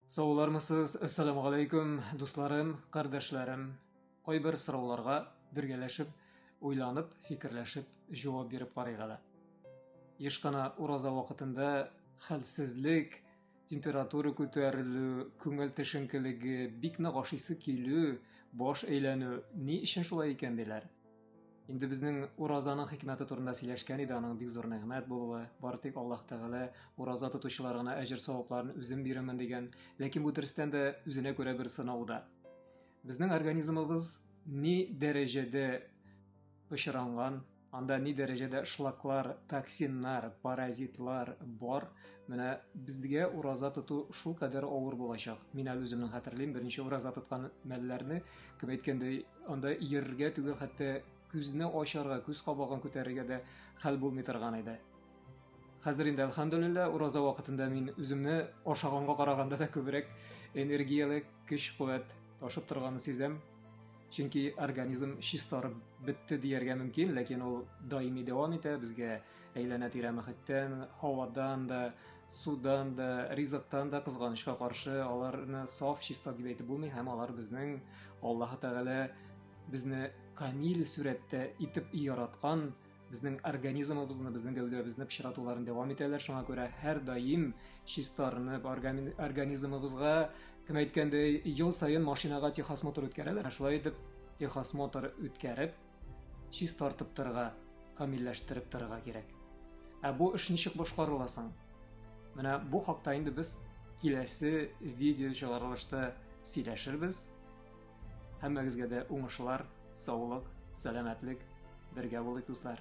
Саулармысыз, әссәламу алейкум, дусларым, кардәшләрем. Кайбер сорауларга бергәләшеп, уйланып, фикерләшеп җавап биреп карыйк әле. Еш кына ураза вакытында хәлсезлек, температура күтәрелү, күңел тешенкелеге, бик нык ашыйсы килү, баш әйләнү ни өчен шулай икән диләр. Инде безнең уразаның хикмәте турында сөйләшкән иде, аның бик зур нигъмәт булуы, бары тик Аллаһ Тәгалә ураза тотучылар гына әҗер-савапларын үзем бирәмен дигән, ләкин бу дөрестән дә үзенә күрә бер сынау да. Безнең организмыбыз ни дәрәҗәдә пычранган, анда ни дәрәҗәдә шлаклар, токсиннар, паразитлар бар. Менә безгә ураза тоту шул кадәр авыр булачак. Мин әле үземнең хәтерлим, беренче ураза тоткан мәлләрне Кем әйткәндәй, анда иярергә түгел, хәтта күзне ачарга, күз кабагын күтәрергә дә хәл булмый торган иде. Хәзер инде альхамдулилла ураза вакытында мин үземне ашаганга караганда да күбрәк энергияле көч куәт ташып торганын сизәм. Чөнки организм чистарып бетте дияргә мөмкин, ләкин ул даими дәвам итә, безгә Әйләнә-тирә мөхиттән, һавадан да, судан да, ризыктан да кызганычка каршы аларны саф, чиста дип әйтеп булмый һәм алар безнең Аллаһ Тәгалә безне камил сүрәттә итеп яраткан безнең организмыбызны, безнең гәүдәбезне пычратуларын дәвам итәләр. Шуңа күрә һәр даим чистарынып, организмыбызга, кем әйткәндәй, ел саен машинага техосмотр үткәрәләр. Шулай итеп, техосмотр үткәреп, Чистартып торырга, камилләштереп торырга кирәк. Ә бу эш ничек башкарыла соң? Менә бу хакта инде без киләсе видео чыгарылышта сөйләшербез. Һәммәгезгә дә уңышлар, саулык, сәламәтлек, бергә булыйк, дуслар.